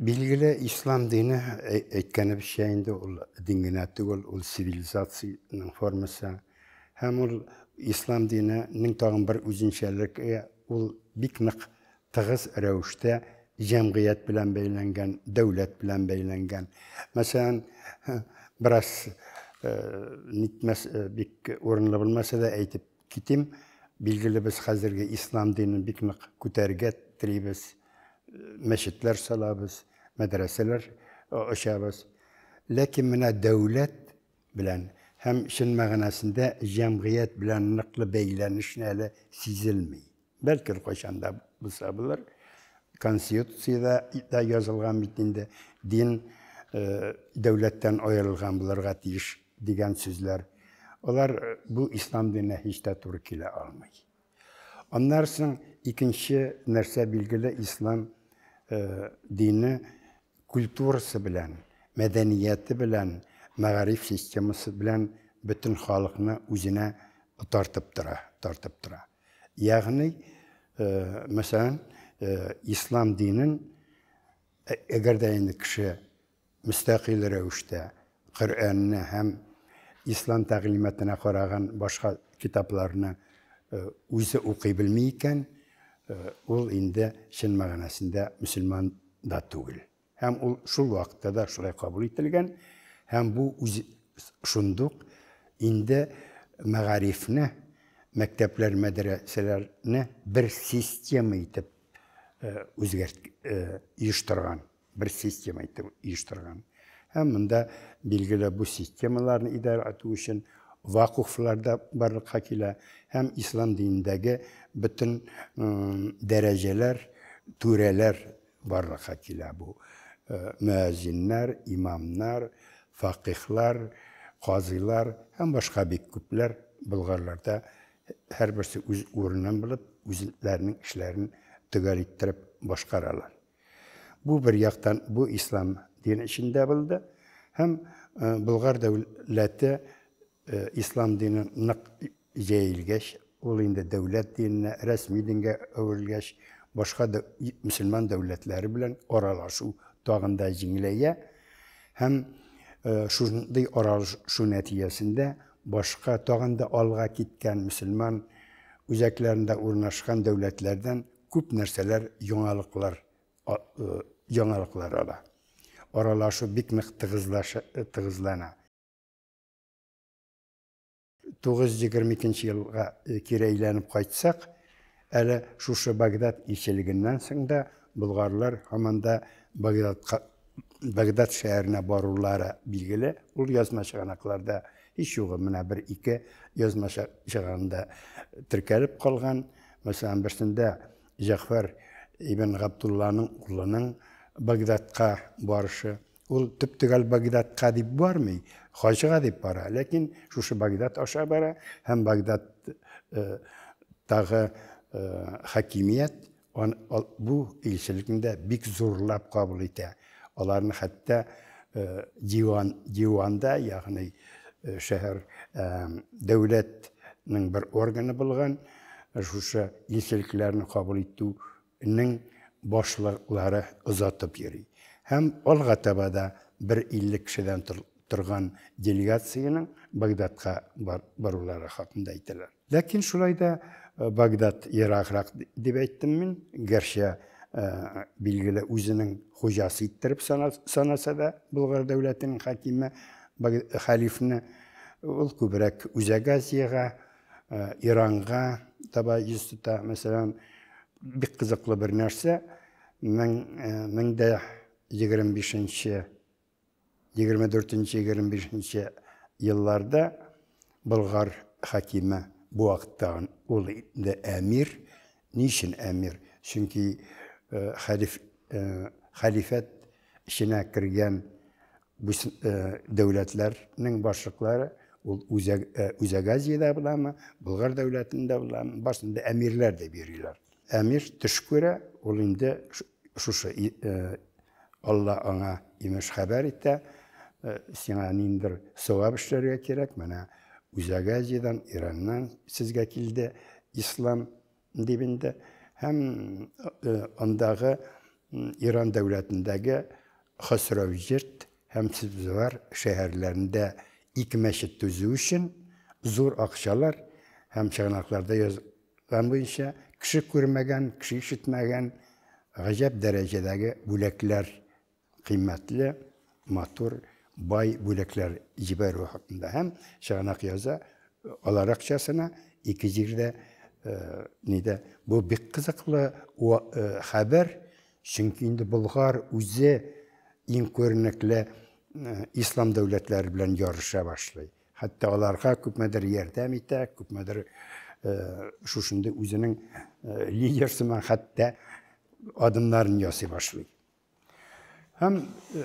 Билгеле, ислам дине әй- әйткәнебезчә инде ул дин генә түгел, ул цивилизациянең формасы. Һәм ул ислам диненең тагын бер үзенчәлеге, ул бик нык тыгыз рәвештә җәмгыять белән бәйләнгән, дәүләт белән бәйләнгән. Мәсәлән, бераз э, нитмәс, э, бик урынлы булмаса да әйтеп Китим, билгеле без хәзерге ислам динен бик нык күтәрергә телибез, мәчетләр салабыз, мәдрәсәләр ачабыз. Ләкин менә дәүләт белән һәм чын мәгънәсендә җәмгыять белән ныклы бәйләнешне әле сизелми. Бәлки кайчан да булса булыр. Конституциядә дә язылган бит инде, дин э, дәүләттән аерылган булырга тиеш дигән сүзләр. Алар э, бу ислам диненә һич тә туры килә алмый. Аннан соң икенче нәрсә билгеле ислам э, дине культурасы белән, мәдәнияте белән, мәгариф системасы белән бөтен халыкны үзенә тартып тора, тартып тора. Ягъни, мәсәлән, ислам динен әгәр дә инде кеше мөстәкыйль рәвештә Коръәнне һәм ислам тәгълиматына караган башка китапларны үзе укый белми икән, ул инде чын мәгънәсендә мөселман да түгел. Һәм ул шул вакытта да шулай кабул ителгән. Һәм бу үз шундук инде мәгарифне, мәктәпләр, мәдрәсәләрне бер система итеп э, үзгәрт э, оештырган, бер система итеп оештырган. Һәм монда билгеле бу системаларны идарә итү өчен вакуфлар да барлыкка килә һәм ислам динендәге бөтен дәрәҗәләр, түрәләр Барлыкка килә бу мөәзиннәр, имамнар, факыйхлар, казыйлар һәм башка бик күпләр Болгарларда һәрберсе үз урынын булып, үзләренең эшләрен төгәл иттереп башкаралар. Бу бер яктан бу ислам дине эчендә булды һәм Болгар дәүләте ислам динен нык Җәелгәч, ул инде дәүләт диненә, рәсми дингә әверелгәч, башка мөселман дәүләтләре белән аралашу тагын да җиңеләя һәм шундый аралашу нәтиҗәсендә башка тагын да алга киткән мөселман үзәкләрендә урнашкан дәүләтләрдән күп нәрсәләр, яңалыклар, яңалыклар ала. Аралашу бик нык тыгызлана. 922 елга кире әйләнеп кайтсак, әле шушы Багдад илчелегеннән соң да болгарлар һаман да Багдадка Багдад шәһәренә барулары билгеле. Ул язма чыганакларда һич югы менә бер ике язма чыганында теркәлеп калган. Мәсәлән, берсендә Җәгъфәр ибн Габдулланың улының Багдадка барышы, Ул төп төгәл Багдадка дип бармый, хаҗга дип бара. Ләкин шушы Багдад аша бара һәм Багдад э, тагы э, хакимият он, ол, бу илчелекне дә бик зурлап кабул итә. Аларны хәтта э, диван, диванда, ягъни э, шәһәр э, дәүләтнең бер органы булган шушы илчелекләрне кабул итү Нең башлыклары озатып йөри һәм алга таба да бер 50 кешедән торган делегациянең Багдадка барулары хакында әйтәләр. Ләкин шулай да Багдад ераграк дип әйттем мин, гәрчә билгеле үзенең хуҗасы иттереп санаса да Болгар дәүләтенең хәкиме хәлифне, ул күбрәк Үзәк Азиягә, Ә, Иранга таба йөз тота. Мәсәлән, бик кызыклы бер нәрсә, мең, ә, мең дә егерме бишенче, егерме дүртенче, егерме бишенче елларда Болгар хакиме бу вакытта ул инде әмир. Ни өчен әмир? Чөнки, э, хәлиф, э, хәлифәт эченә кергән Бу дәүләтләрнең башлыклары ул Үзәк Үзәк Азиядә буламы, Болгар дәүләтендә буламы, башында әмирләр дип йөриләр. Әмир төш күрә, ул инде шушы Алла аңа имеш хәбәр итә, сиңа ниндидер савап эшләргә кирәк, менә Үзәк Азиядән, Ираннан сезгә килде ислам, дип инде, һәм андагы Иран дәүләтендәге Хосрәүҗирд һәм Себзевар шәһәрләрендә ике мәчет төзү өчен зур акчалар һәм чыганакларда язган буенча кеше күрмәгән, кеше ишетмәгән гаҗәп дәрәҗәдәге бүләкләр кыйммәтле, матур, бай бүләкләр җибәрүе хакында һәм чыганак яза, алар акчасына ике җирдә нидә. Бу бик кызыклы хәбәр, чөнки инде Болгар үзе иң күренекле ислам дәүләтләре белән ярыша башлый. Хәтта аларга күпмедер ярдәм итә, күпмедер шушындый үзенең лидер сыман хәтта адымнарын ясый башлый. Һәм э,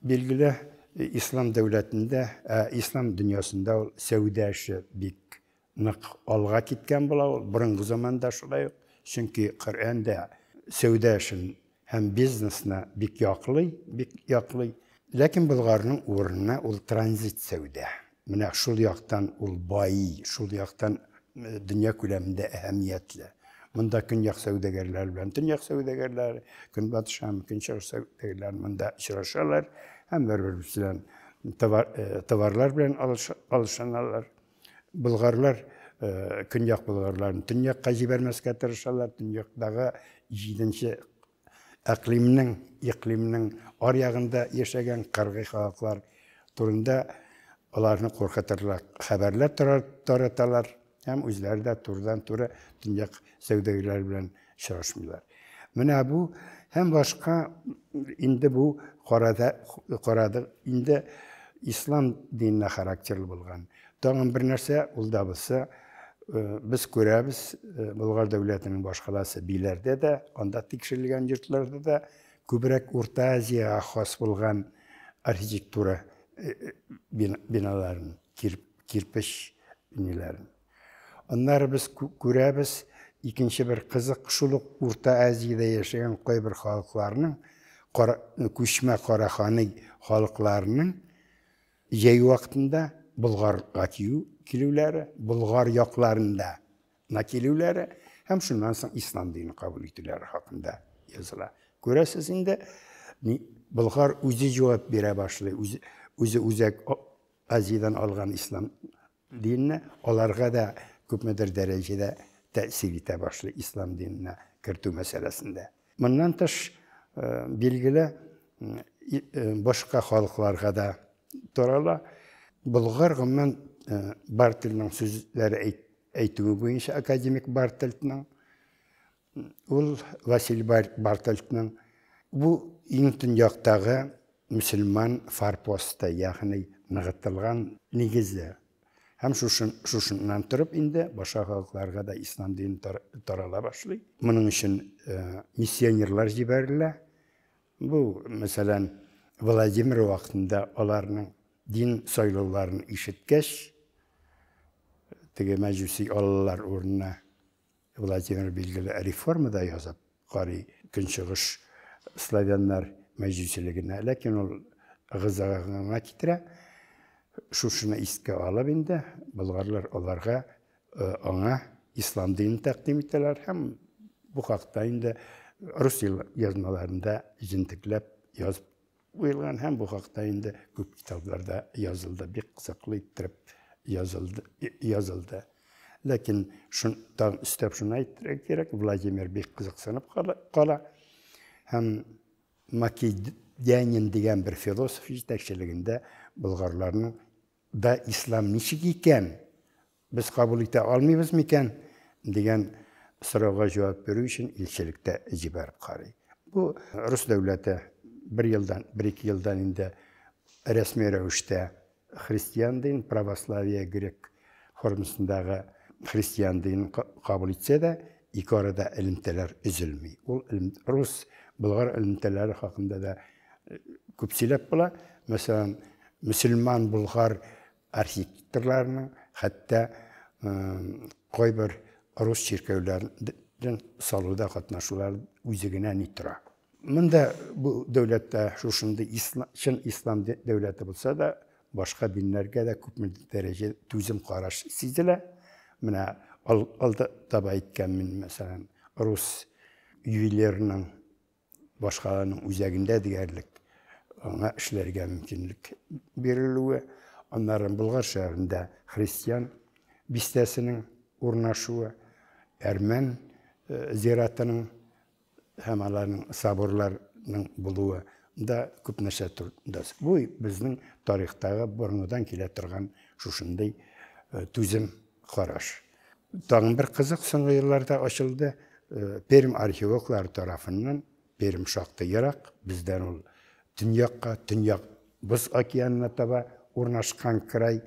билгеле э, ислам дәүләтендә, ә ислам дөньясында ул сәүдә эше бик нык алга киткән була ул борынгы заманда шулай ук, чөнки Коръән дә сәүдә эшен һәм бизнесны бик яклый, бик яклый. Ләкин Болгарның урынына ул транзит сәүдә Менә шул яктан ул бай, шул яктан дөнья күләмендә әһәмиятле. Монда көньяк сәүдәгәрләре белән төньяк сәүдәгәрләре, көнбатыш һәм көнчыгыш сәүдәгәрләре монда очрашалар һәм бер-беребез белән товарлар белән алышыналар. Болгарлар көньяк болгарларын төньякка җибәрмәскә тырышалар, төньяктагы җиденче әкълимнең, икълимнең аръягында яшәгән кыргый халыклар турында аларны куркытырлык хәбәрләр тараталар һәм үзләре дә турыдан-туры төньяк сәүдәгәрләре белән очрашмыйлар. Менә бу һәм башка инде бу карады, инде ислам диненә характерлы булган Тагын бер нәрсә, ул да булса, без күрәбез, Болгар дәүләтенең башкаласы биләрдә дә, анда тикшерелгән йортларда да күбрәк Урта Азиягә хас булган архитектура биналарын, кирпеч ниләрен. Аннары без күрәбез, икенче бер кызык, шул ук Урта Азиядә яшәгән кайбер халыкларның, күчмә караханый халыкларының Җәй вакытында Болгарга кию килүләре, Болгар якларында на килүләре һәм шуннан соң ислам динен кабул итүләре хакында языла. Күрәсез инде, Болгар үзе җавап бирә башлый, үзе үзәк Азиядән алган ислам Дин аларга да күпмедер дәрәҗәдә тәэсир итә башлый, ислам диненә кертү мәсьәләсендә. Моннан тыш, билгеле, башка халыкларга да тарала. Болгар, гомумән, Бартельның сүзләре әйтүе буенча, академик Бартельның, Ул Василий Бартольдның бу иң төньяктагы мөселман форпосты, ягъни ныгытылган нигезе. Һәм шушыннан торып инде башка халыкларга да ислам дине тарала башлый. Моның өчен миссионерлар җибәрелә. Бу, мәсәлән, Владимир вакытында аларның дин сайлауларын ишеткәч, теге мәҗүси аллалар урынына Владимир билгеле реформада язып карый көнчыгыш славяннар мәҗүсилегенә, ләкин ул ыгы-зыгыга китерә. Шушыны искә алып инде, болгарлар аларга аңа ислам динен тәкъдим итәләр һәм бу хакта инде рус язмаларында җентекләп язып Уелган һәм бу хакта инде күп китапларда язылды, бик кызыклы иттереп язылды, язылды. Ләкин шун тагын өстәп шуны әйтергә кирәк, Владимир бик кызыксынып кала һәм Македянин дигән бер философ җитәкчелегендә болгарларның да ислам ничек икән, Без кабул итә алмыйбыз микән? дигән сорауга җавап бирү өчен илчелектә җибәреп карый. Бу рус дәүләте бер елдан, бер-ике елдан инде рәсми рәвештә христиан дин, православие, грек формасындагы христиан динен кабул итсә дә, ике арада элемтәләр өзелми. Ул рус, болгар элемтәләре хакында да күп сөйләп була. Мәсәлән, мөселман, болгар Архитекторларның хәтта кайбер рус чиркәүләрен салуда катнашулар үзе генә ни тора. Монда бу дәүләттә шушындый чын ислам дәүләте булса да, башка диннәргә дә күпме дәрәҗә түзем караш сизелә. Менә алда таба әйткән мин, мәсәлән, рус ювелирының башкаланың үзәгендә диярлек аңа эшләргә мөмкинлек бирелүе, аннары Болгар шәһәрендә христиан бистәсенең урнашуы, әрмән э, зиратының һәм аларның соборларының булуы да күп нәрсә турында. Бу безнең тарихтагы борынгыдан килә торган шушындый э, түзем Караш. Тагын бер кызык соңгы елларда ачылды. Э, Пермь археологлары тарафыннан Пермь шактый ерак, бездән ул төньякка, төньяк Боз океанына таба урнашкан край.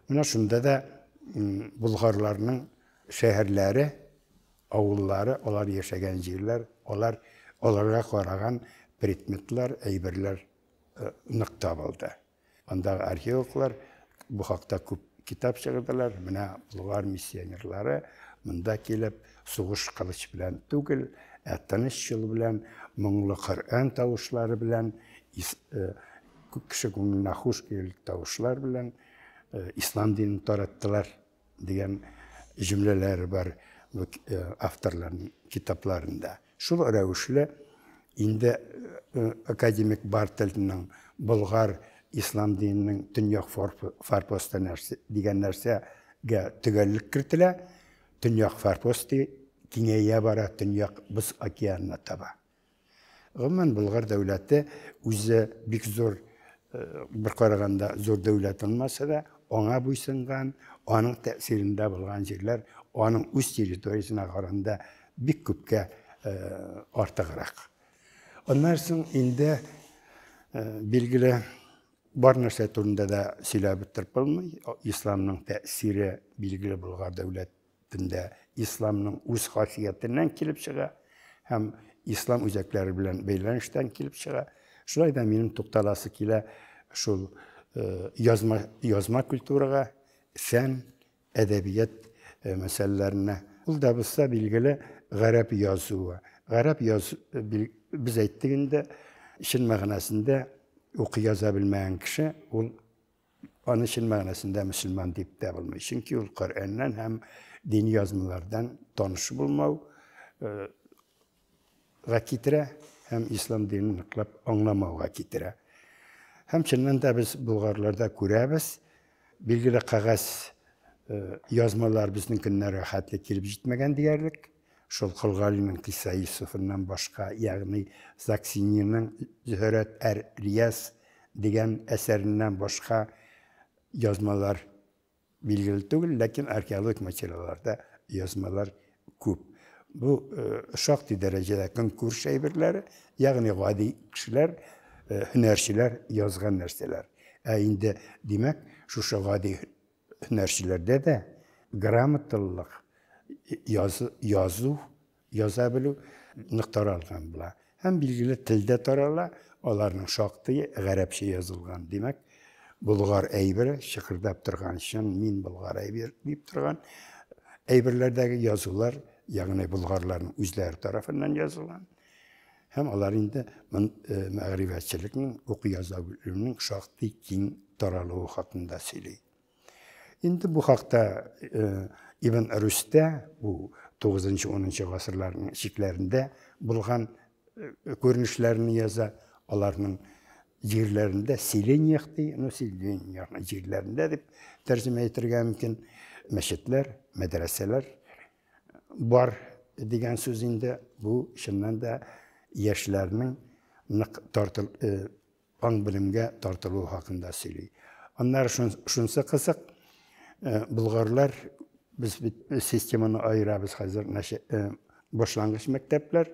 Менә шунда да болгарларның шәһәрләре, авыллары, алар яшәгән җирләр, алар аларга караган предметлар, әйберләр э, нык табылды. Андагы археологлар бу хакта күп китап чыгырдылар. Менә болгар миссионерлары монда килеп, сугыш кылыч белән түгел, ә тыныч юл белән, моңлы Коръән тавышлары белән, э, кеше күңеленә хуш килерлек тавышлар белән э, ислам динен тараттылар. Дигән җөмләләре бар бу авторларның китапларында. Шул рәвешле инде академик Бартельның Болгар ислам диненең төньяк форпосты нәрсә дигән нәрсәгә төгәллек кертелә. Төньяк форпосты киңәя бара, төньяк боз океанына таба. Гомумән, Болгар дәүләте үзе бик зур, э, бер караганда зур дәүләт булмаса да, аңа буйсынган, аның тәэсирендә булган җирләр аның үз территориясенә караганда бик күпкә э, артыграк. Аннан соң инде э, билгеле бар нәрсә турында да сөйләп бетереп булмый. Исламның тәэсире билгеле Болгар дәүләт төндә исламның үз хасиятеннән килеп чыга һәм ислам үзәкләре белән бәйләнештән килеп чыга. Шулай да минем тукталасы килә шул э, язма, язма культурага, фән, әдәбият э, мәсьәләләренә. Ул да булса билгеле гарәп язуы. Гарәп яз без әйттек инде, чын мәгънәсендә укый яза белмәгән кеше ул Аны чын мәгънәсендә мөселман дип тә булмый. Чөнки ул Коръәннән һәм дини язмалардан таныш булмау э, га китерә һәм ислам динен ныклап аңламауга китерә. Һәм чыннан да без булгарларда күрәбез, билгеле кәгазь э, язмалар безнең көннәргә хәтле килеп җитмәгән диярлек. Шул Колгалинең Кисә Йосыфыннан башка, ягъни Заксинийның Зөһрәт әр-Рияз дигән әсәреннән башка язмалар билгеле түгел, ләкин археологик материалларда язмалар күп. Бу шактый дәрәҗәдә көнкүреш әйберләре, ягъни гади кешеләр, һөнәрчеләр язган нәрсәләр. Ә инде, димәк, шушы гади Һөнәрчеләрдә дә грамоталылык, язу, яза белү нык таралган була. Һәм билгеле телдә тарала, аларның шактые гарәпчә язылган. Димәк, болгар әйбере чыкырдап торган, чын мин болгар әйбер дип торган әйберләрдәге язулар, ягъни болгарларның үзләре тарафыннан язылган. Һәм алар инде мәгърифәтчелекнең, уку-яза белүнең шактый киң таралуы хакында сөйли. Инде бу хакта Ибн Рүстә, бу 9-10 гасырларның чикләрендә булган күренешләрне яза, аларның җирләрендә селениях ди, ну селениях җирләрендә дип тәрҗемә итәргә мөмкин, мәчетләр, мәдрәсәләр Бар дигән сүз инде бу чыннан да яшьләрнең нык тартыл аң белемгә тартылуы хакында сөйли. Аннары шунсы кызык, болгарлар без бит системаны аерабыз хәзер, башлангыч мәктәпләр,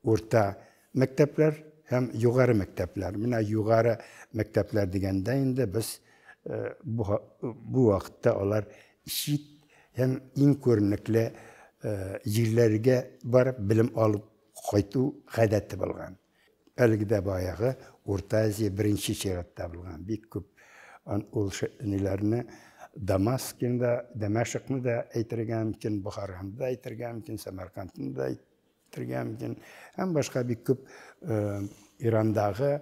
урта Мәктәпләр һәм югары мәктәпләр. Менә югары мәктәпләр дигәндә инде без бу вакытта алар чит һәм иң күренекле җирләргә барып белем алып кайту гадәте булган. Әлеге дә баягы Урта Азия беренче чиратта булган. Бик күп ул ниләрне Дамаскин да, Дәмәшыкны да әйтергә мөмкин, Бохараны да әйтергә мөмкин, Сәмәркандны да Төргә мөмкин. Һәм башка бик күп э, Ирандагы,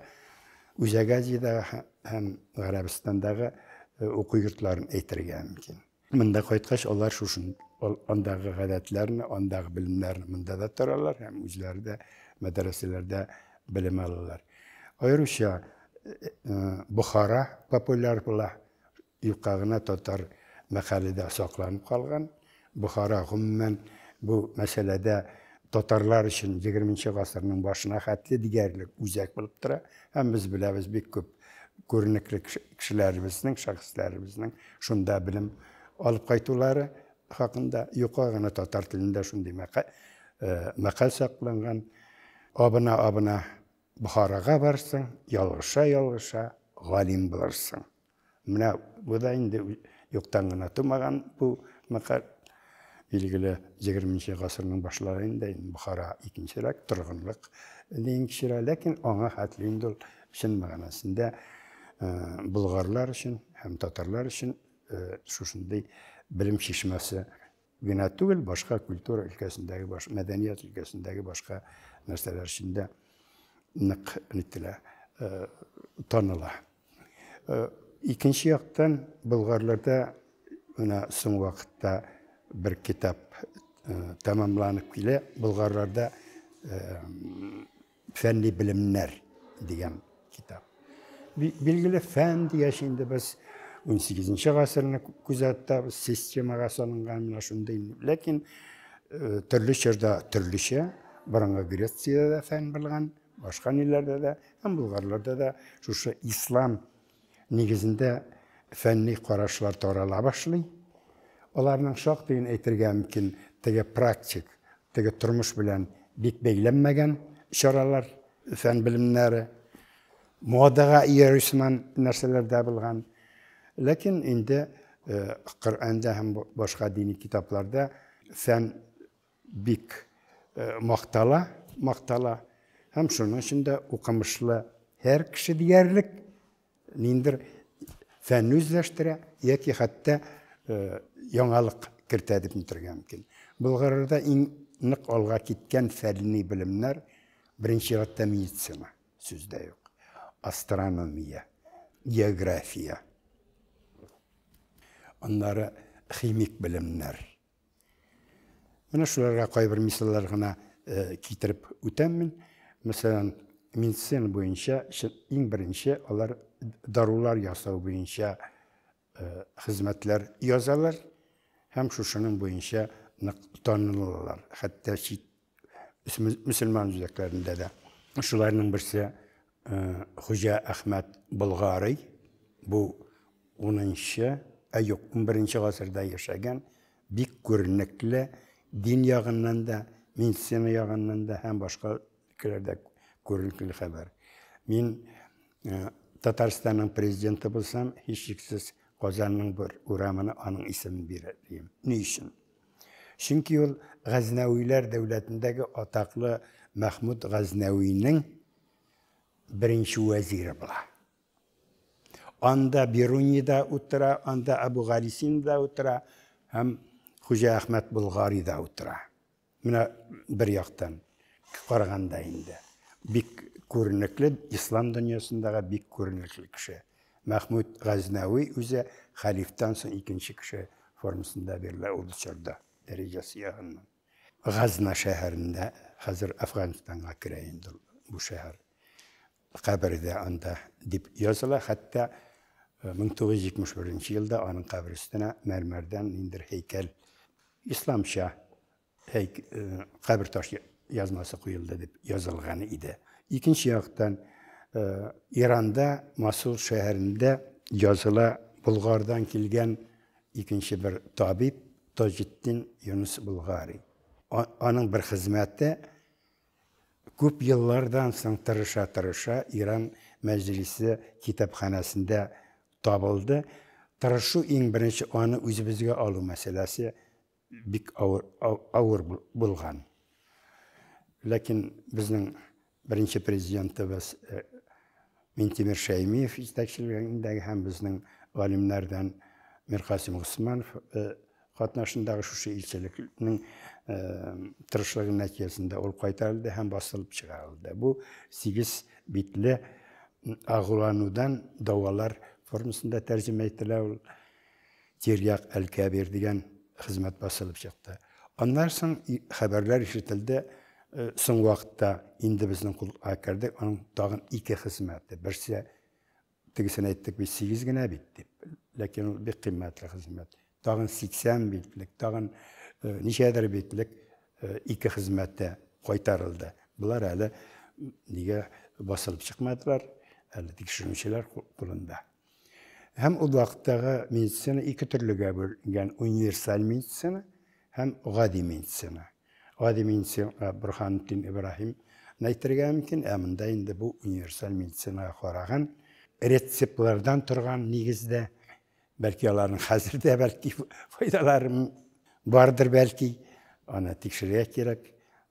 Үзәк Азиядәге һәм Гарәбстандагы э, уку йортларын әйтергә мөмкин. Монда кайткач, алар шушын андагы гадәтләрне, андагы белемнәрне монда да торалар һәм үзләре дә мәдрәсәләрдә белем алалар. Аеруча э, Бухара популяр була. Юкка гына татар мәкале дә сакланып калган. Бохара, гомумән, бу мәсьәләдә татарлар өчен егерменче гасырның башына хәтле диярлек үзәк булып тора. Һәм без беләбез, бик күп күренекле кешеләребезнең, шәхесләребезнең шунда белем алып кайтулары хакында. Юкка гына татар телендә шундый мәкаль сакланган. Абына-абына Бохарага барырсың, ялгыша-ялгыша галим булырсың. Менә бу да инде юктан гына тумаган бу мәкаль. Билгеле, 20 нче гасырның башлары инде Бохара икенчерәк торгынлык дигән кичерә, ләкин аңа хәтле инде ул чын мәгънәсендә болгарлар өчен һәм татарлар өчен шушындый белем чишмәсе генә түгел, башка культура өлкәсендәге, баш, мәдәният өлкәсендәге башка нәрсәләр өчен дә нык нителә, э, таныла. Э, икенче яктан, болгарларда менә соң вакытта бер китап э, тәмамланып килә, болгарларда э, Фәнни белемнәр дигән китап. Билгеле фән дигәч инде без 18-нче гасырны күзәтәбез, системага салынган менә шундый. Ләкин э, төрле чорда төрлечә, борынгы Грециядә дә фән булган, башка ниләрдә дә, һәм булгарларда да шушы ислам Нигезендә фәнни карашлар тарала башлый. Аларның шактыен әйтергә мөмкин, теге практик, теге тормыш белән бик бәйләнмәгән чаралар, фән белемнәре. Модага иярү сыман нәрсәләр дә булган. Ләкин инде Коръәндә һәм башка дини китапларда фән Бик мактала, мактала. Һәм шуның өчен дә укымышлы һәр кеше диярлек ниндер фән үзләштерә яки хәтта яңалык кертә дип әйтергә мөмкин. Болгарда иң нык алга киткән фәнни белемнәр беренче чиратта медицина, сүз дә юк. Астрономия, география. Аннары химик белемнәр. Менә шуларга кайбер мисаллар гына китереп үтәм мин. Мәсәлән, медицина буенча иң беренче алар дарулар ясау буенча хезмәтләр язалар һәм шушының буенча нык танылалар. Хәтта чит мөселман үзәкләрендә дә. Шуларның берсе Хуҗа Әхмәт Болгарый. Бу 10-нчы, ә юк, 11-нче гасырда яшәгән, бик күренекле, дин ягыннан да, медицина ягыннан да һәм башка өлкәләрдә күренекле хәбәр. Мин Татарстанның президенты булсам, һичшиксез Казанның бер урамына аның исемен бирер идем. Ни өчен? Чөнки ул Газнәвиләр дәүләтендәге атаклы Мәхмүд Газнәвинең беренче вәзире була. Анда Бируни да утыра, анда Абу Галисин да утыра һәм Хуҗа Әхмәт Болгари да утыра. Менә бер яктан караганда инде бик күренекле ислам дөньясындагы бик күренекле кеше. Мәхмүд Газнәви үзе хәлифтан соң икенче кеше формасында бирелә ул чорда, дәрәҗәсе ягыннан. Газна шәһәрендә, хәзер Әфганстанга керә инде ул, бу шәһәр, кабере дә анда дип языла, хәтта 1971 елда аның кабере өстенә мәрмәрдән ниндидер һәйкәл, исламча Һәйк, э, кабер таш язмасы куелды дип язылган иде. Икенче яктан, э, Иранда, Масул шәһәрендә языла Болгардан килгән икенче бер табиб Таҗетдин Юнус Болгари. Аның бер хезмәте күп еллардан соң тырыша-тырыша Иран мәҗлесе китапханәсендә табылды. Тырышу иң беренче аны үзебезгә алу мәсьәләсе Бик авыр авыр булган. Ләкин безнең беренче президентыбыз Минтимер Шәймиев җитәкчелегендәге һәм безнең галимнәрдән Миркасим Госманов катнашындагы шушы илчелекнең тырышлыгы нәтиҗәсендә ул кайтарылды һәм басылып чыгарылды. Бу сигез битле агуланудан дәвалар формасында тәрҗемә ителә ул. Тирьяк әлкә бир дигән хезмәт басылып чыкты. Аннан соң хәбәрләр ишетелде, э, соң вакытта инде безнең кулга керде, аның тагын ике хезмәте. Берсе тегесен әйттек бит, 8 генә бит дип. Ләкин ул бик кыйммәтле хезмәт. Тагын 80 битлек, тагын э, ничәдер битлек э, ике хезмәте кайтарылды. Болар әле нигә басылып чыкмадылар, әле тикшерүчеләр кулында. Һәм ул вакыттагы медицина ике төрлегә бүленгән, универсаль медицина һәм гади медицина. Гади медицина Бурханутдин Ибраһим әйтергә мөмкин, ә монда инде бу универсаль медицинаға караган рецептлардан торган нигездә, бәлки аларның хәзер дә бәлки файдалары бардыр бәлки, аны тикшерергә кирәк.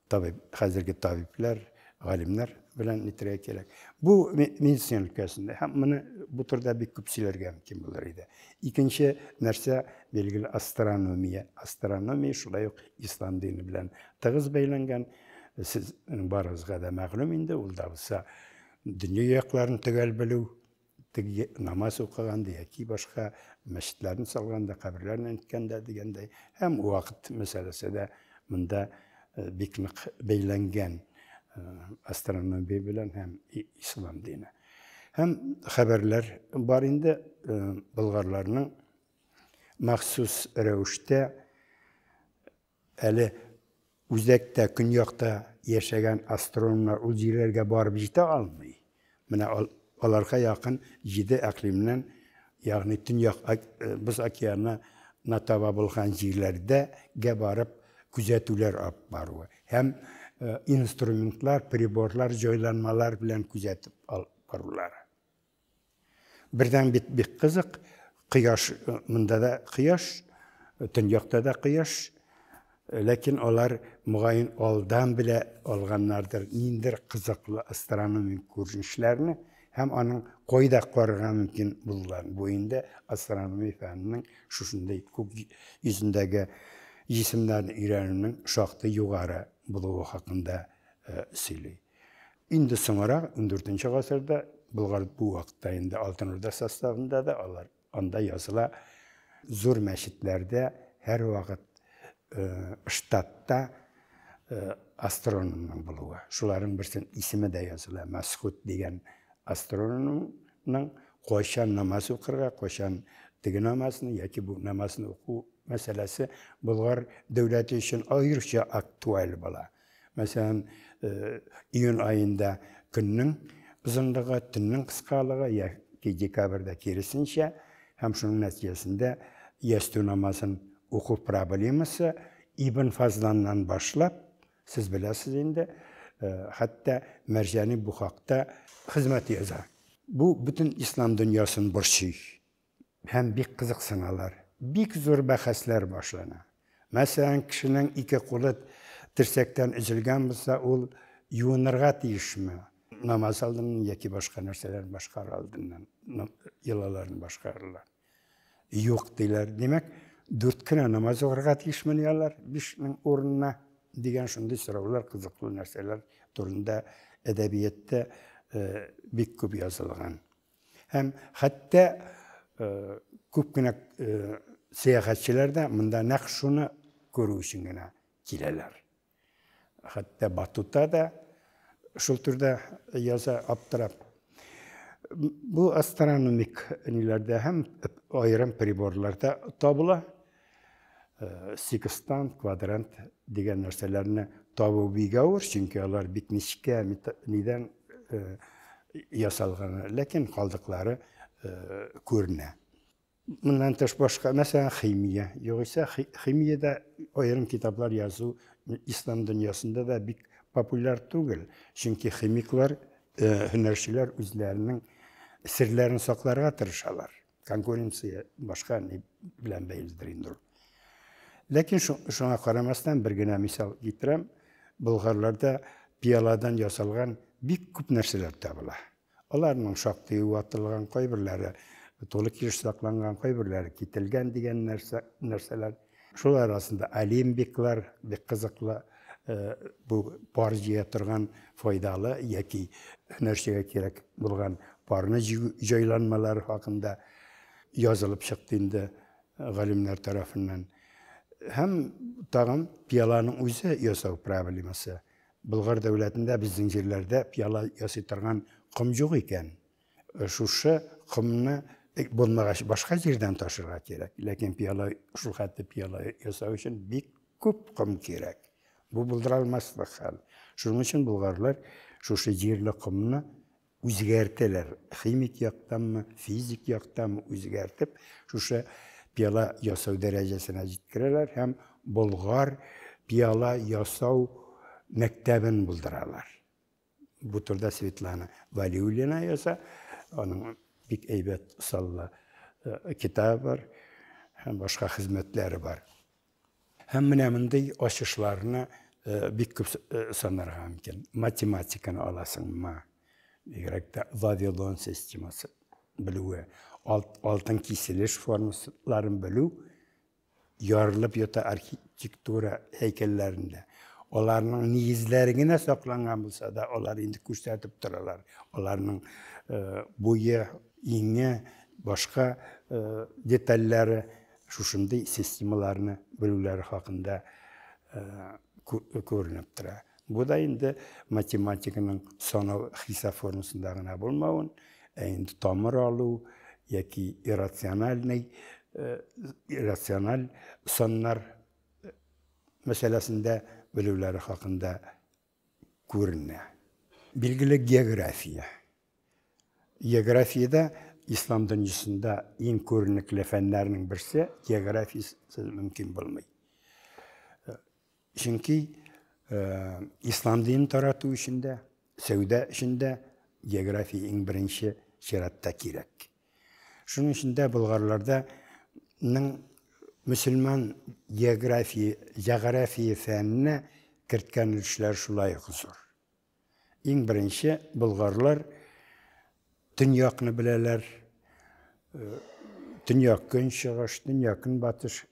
табиб, хәзерге табиблар, галимнәр белән нитергә кирәк. Бу медицина өлкәсендә һәм моны бу турыда бик күп сөйләргә мөмкин булыр иде. Икенче нәрсә билгеле астрономия. Астрономия шулай ук ислам дине белән тыгыз бәйләнгән. Сез барыгызга да мәгълүм инде, ул да булса дөнья якларын төгәл белү, теге намаз укыганда яки башка мәчетләрне салганда, каберләрне әйткәндә дигәндәй, һәм вакыт мәсьәләсе дә монда э, бик нык бәйләнгән э, астрономия белән һәм ислам дине. Һәм хәбәрләр бар инде э, болгарларның махсус рәвештә Әле үзәктә, көньякта яшәгән астрономнар ул җирләргә барып җитә алмый. Менә аларга якын җиде әкълимнән, ягъни Төньяк Боз океаны на таба булган җирләрдә гә барып күзәтүләр алып баруы һәм инструментлар, приборлар, җайланмалар белән күзәтеп алып барулары. Бердән бит бик кызык, кояш, монда да кояш, төньякта да кояш, ләкин алар мөгаен алдан белә алганнардыр ниндер кызыклы астрономик күренешләрне һәм аның кайда карарга мөмкин булган. Бу инде астрономия фәненең шушындый күк йөзендәге җисемнәрне өйрәнүнең шактый югары булуы хакында сөйли. Инде соңарак, 14 гасырда, Болгар бу вакытта инде Алтын Урда составында да алар анда языла. Зур мәчетләрдә һәрвакыт штатта астрономның булуы. Шуларның берсен исеме дә языла. Мәсхут дигән астрономның кайчан намаз укырга, кайчан теге намазны яки бу намазны уку мәсьәләсе Болгар дәүләте өчен аеруча актуаль була. Мәсәлән, июнь аенда көннең озынлыгы, төннең кыскалыгы, яки декабрьдә киресенчә, һәм шуның нәтиҗәсендә ястү намазын уку проблемасы Ибн Фазланнан башлап, сез беләсез инде, хәтта Мәрҗани бу хакта хезмәт яза. Бу бөтен ислам дөньясын борчый. Һәм бик кызыксыналар. Бик зур бәхәсләр башлана. Мәсәлән, кешенең ике кулы терсәктән өзелгән булса, ул юынырга тиешме? Намаз алдыннан яки башка нәрсәләрне башкарыр алдыннан йолаларын башкаралар. Юк, диләр. Димәк, дүрт кенә намаз укырга тиешмени алар бишнең урынына? дигән шундый сораулар, кызыклы нәрсәләр турында әдәбиятта бик күп язылган. Һәм хәтта күп кенә сәяхәтчеләр дә монда нәкъ шуны күрү өчен генә киләләр. Хәтта Батута да шул төрдә яза аптырап. Бу астрономик ниләрдә һәм аерым приборларда табыла. Э, секстант, квадрант дигән нәрсәләрне табу бик авыр, чөнки алар бит нечкә нидән э, ясалган, ләкин калдыклары э, күренә. Моннан тыш башка, мәсәлән, химия. Югыйсә химиядә аерым китаплар язу ислам дөньясында да бик популяр түгел, чөнки химиклар, һөнәрчеләр үзләренең серләрен сакларга тырышалар. конкуренция башка ни белән бәйледер инде ул. Ләкин шуңа карамастан бер генә мисал китерәм. Болгарларда пиаладан ясалган бик күп нәрсәләр табыла. Аларның шактый ватылган, кайберләре тулы килеш сакланган, кайберләре кителгән дигән нәрсә, нәрсәләр. Шул арасында алимбиклар бик кызыклы, бу пар җыя торган файдалы яки һөнәрчегә кирәк булган парны җыю җайланмалары хакында язылып чыкты инде галимнәр тарафыннан. Һәм тагын пиаланың үзе ясау проблемасы. Болгар дәүләтендә безнең җирләрдә пиала ясый торган ком юк икән. Шушы комны булмагач, башка җирдән ташырга кирәк. Ләкин пиала, шул хәтле пиала ясау өчен бик күп ком кирәк. Бу булдыра алмаслык хәл. Шуның өчен болгарлар шушы җирле комны үзгәртәләр. Химик яктанмы, физик яктанмы үзгәртеп, шушы пиала ясау дәрәҗәсенә җиткерәләр һәм болгар пиала ясау мәктәбен булдыралар. Бу турыда Светлана Валиуллина яза. Аның бик әйбәт саллы э, китабы бар һәм башка хезмәтләре бар. Һәм менә мондый ачышларны э, бик күп э, санарга мөмкин. Математиканы аласыңмы? Бигрәк тә Вавилон системасы белүе, алтын киселеш формулаларын белү ярылып ята архитектура һәйкәлләрендә. Аларның нигезләре генә сакланган булса да, алар инде күрсәтеп торалар. Аларның э, буе, иңе, башка э, детальләре шушындый системаларны белүләре хакында э, күренеп тора. Бу да инде математиканың санау хисап формасында гына булмавын, ә инде тамыр алу яки иррациональный э, иррациональ саннар э, мәсьәләсендә белүләре хакында күренә. Билгеле география. Географиядә ислам дөньясында иң күренекле фәннәрнең берсе географиясез мөмкин булмый. Чөнки ислам динен тарату өчен дә, сәүдә өчен дә география иң беренче чиратта кирәк. Шуның өчен дә болгарларда мөселман география, җәгърафия фәненә керткән өлешләре шулай ук зур. Иң беренче болгарлар төньякны беләләр. Төньяк көнчыгыш, төньяк көнбатыш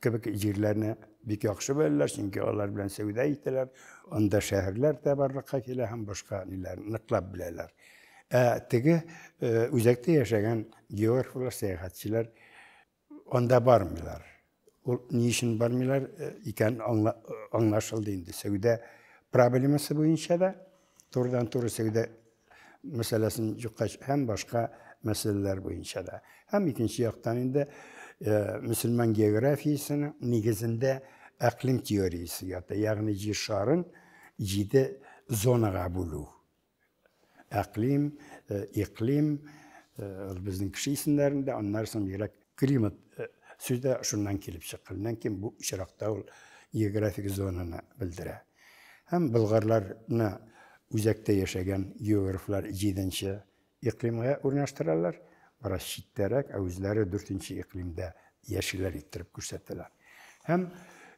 кебек җирләрне бик яхшы беләләр, чөнки алар белән сәүдә итәләр. Анда шәһәрләр дә барлыкка килә һәм башка ниләр ныклап беләләр. Ә теге э, үзәктә яшәгән географлар, сәяхәтчеләр Анда бармыйлар. Ул ни өчен бармыйлар э, икән э, аңлашылды инде. Сәүдә проблемасы буенча да турыдан-туры сәүдә мәсьәләсен юкка һәм башка мәсьәләләр буенча да. Һәм икенче яктан инде э, мөселман географиясенең нигезендә әклим теориясе ята, ягъни җир шарын җиде зонага бүлү. Әклим, э, иклим, э, безнең кеше исемнәрендә, аннары соң бигрәк климат э, сүзе шуннан килеп чыккан. Моннан ким бу очракта ул географик зонаны белдерә. Һәм болгарларны үзәктә яшәгән географлар 7-нче иклимгә урнаштыралар, бераз читтәрәк, ә үзләре 4-нче иклимдә яшиләр иттереп күрсәтәләр. Һәм,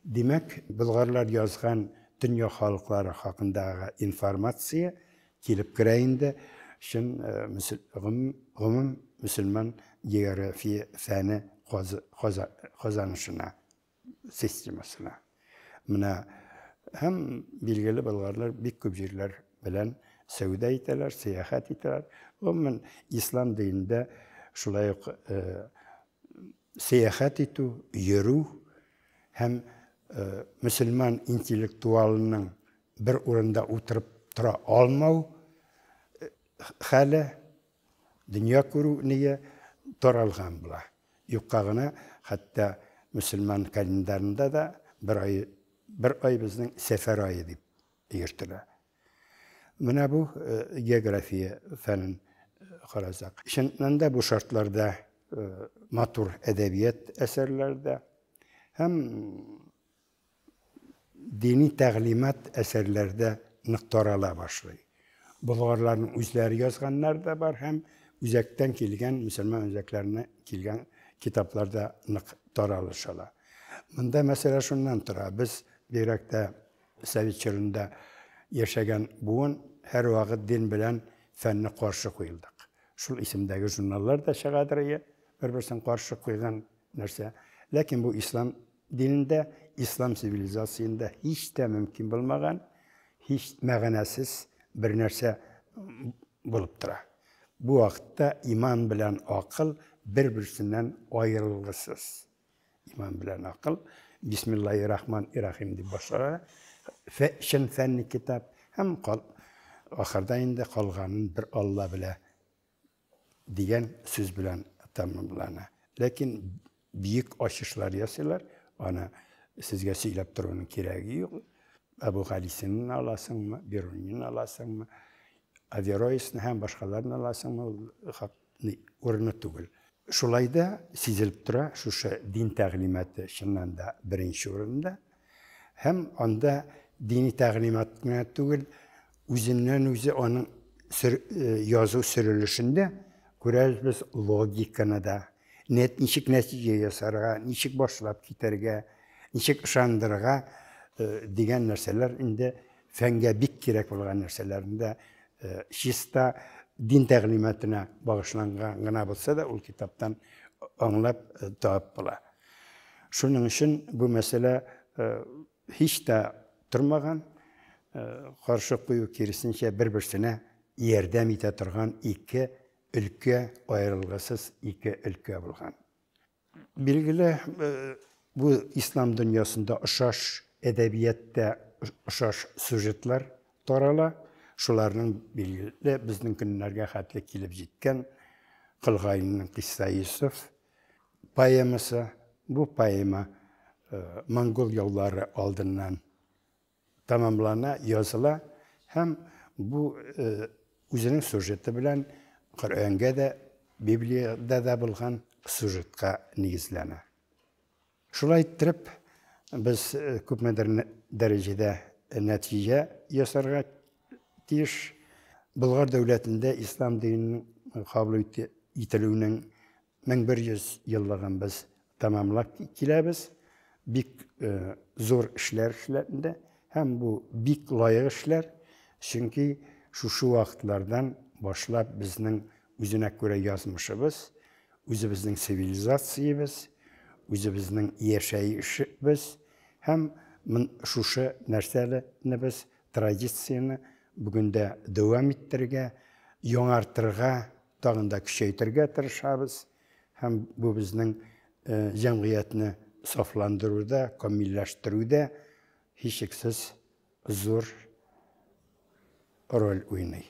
димәк, болгарлар язган дөнья халыклары хакындагы информация килеп керә инде чын гомум мөселман география фәне казанышына, системасына. Менә һәм билгеле болгарлар бик күп җирләр белән сәүдә итәләр, сәяхәт итәләр. Гомумән, ислам динендә шулай ук сәяхәт итү, йөрү һәм мөселман интеллектуалының бер урында утырып тора алмау хәле, дөнья күрү ние таралган була. Юкка гына, хәтта мөселман календарында да бер ай, бер ай безнең сәфәр ае дип йөртелә. Менә бу география фәнен карасак. Чыннан да бу шартларда матур әдәбият әсәрләре дә һәм дини тәгълимат әсәрләре дә нык тарала башлый. Болгарларның үзләре язганнар да бар һәм үзәктән килгән, мөселман үзәкләренә килгән китаплар да нык таралыш ала. Монда мәсьәлә шуннан тора, без бигрәк тә Совет чорында яшәгән буын һәрвакыт дин белән фәнне каршы куелдык. Шул исемдәге журналлар да чыгадыр ие, бер-берсен каршы куйган нәрсә. Ләкин бу ислам динендә, ислам цивилизациендә һич тә мөмкин булмаган, һич мәгънәсез бер нәрсә булып тора. Бу вакытта иман белән акыл бер-берсеннән аерылгысыз. Иман белән акыл. Бисмиллахи рахман и рахим дип башлана. Чын фәнни китап һәм ахырда инде калганын бер Алла белә дигән сүз белән тәмамлана. Ләкин бик ачышлар ясыйлар, аны сезгә сөйләп торуның кирәге юк. Абу Галисинен аласыңмы, Берунин аласыңмы, Авероисны һәм башкаларны аласыңмы, ни урыны түгел. Шулай да сизелеп тора, шушы дин тәгълиматы чыннан да беренче урында. Һәм анда дини тәгълимат кына түгел, үзеннән-үзе аның язу сөрелешендә күрәбез без логиканы да, ничек нәтиҗә ясарга, ничек башлап китәргә, ничек ышандырырга дигән нәрсәләр инде фәнгә бик кирәк булган нәрсәләрне дә чиста дин тәгълиматына багышланган гына булса да ул китаптан аңлап табып була. Шуның өчен бу мәсьәлә һич тә тормаган, каршы кую киресенчә бер-берсенә ярдәм итә торган ике өлкә, аерылгысыз ике өлкә булган. Билгеле, бу ислам дөньясында ошаш әдәбияттә ошаш сюжетлар тарала. Шуларның билгеле безнең көннәргә хәтле килеп җиткән Кылгайның Кисса Йосыф поэмасы. Бу поэма монгол яулары алдыннан Тәмамлана, языла һәм бу үзенең сюжеты белән Коръәнгә дә, Библиядә дә булган сюжетка нигезләнә. Шулай иттереп, без күпмедер дәрәҗәдә нәтиҗә ясарга тиеш. Болгар дәүләтендә ислам диненең кабул ителүенең 1100 еллыгын без тәмамлап киләбез. Бик зур эшләр эшләнде һәм бу бик лаек эшләр, чөнки шушы вакытлардан башлап безнең үзенә күрә язмышыбыз, үзебезнең цивилизациябез, үзебезнең яшәешебез һәм шушы нәрсәләрнебез, традицияне бүген дә дәвам иттерергә, яңартырга тагын да көчәйтергә тырышабыз һәм бу безнең җәмгыятьне сафландыруда, камилләштерүдә һичшиксез зур роль уйный.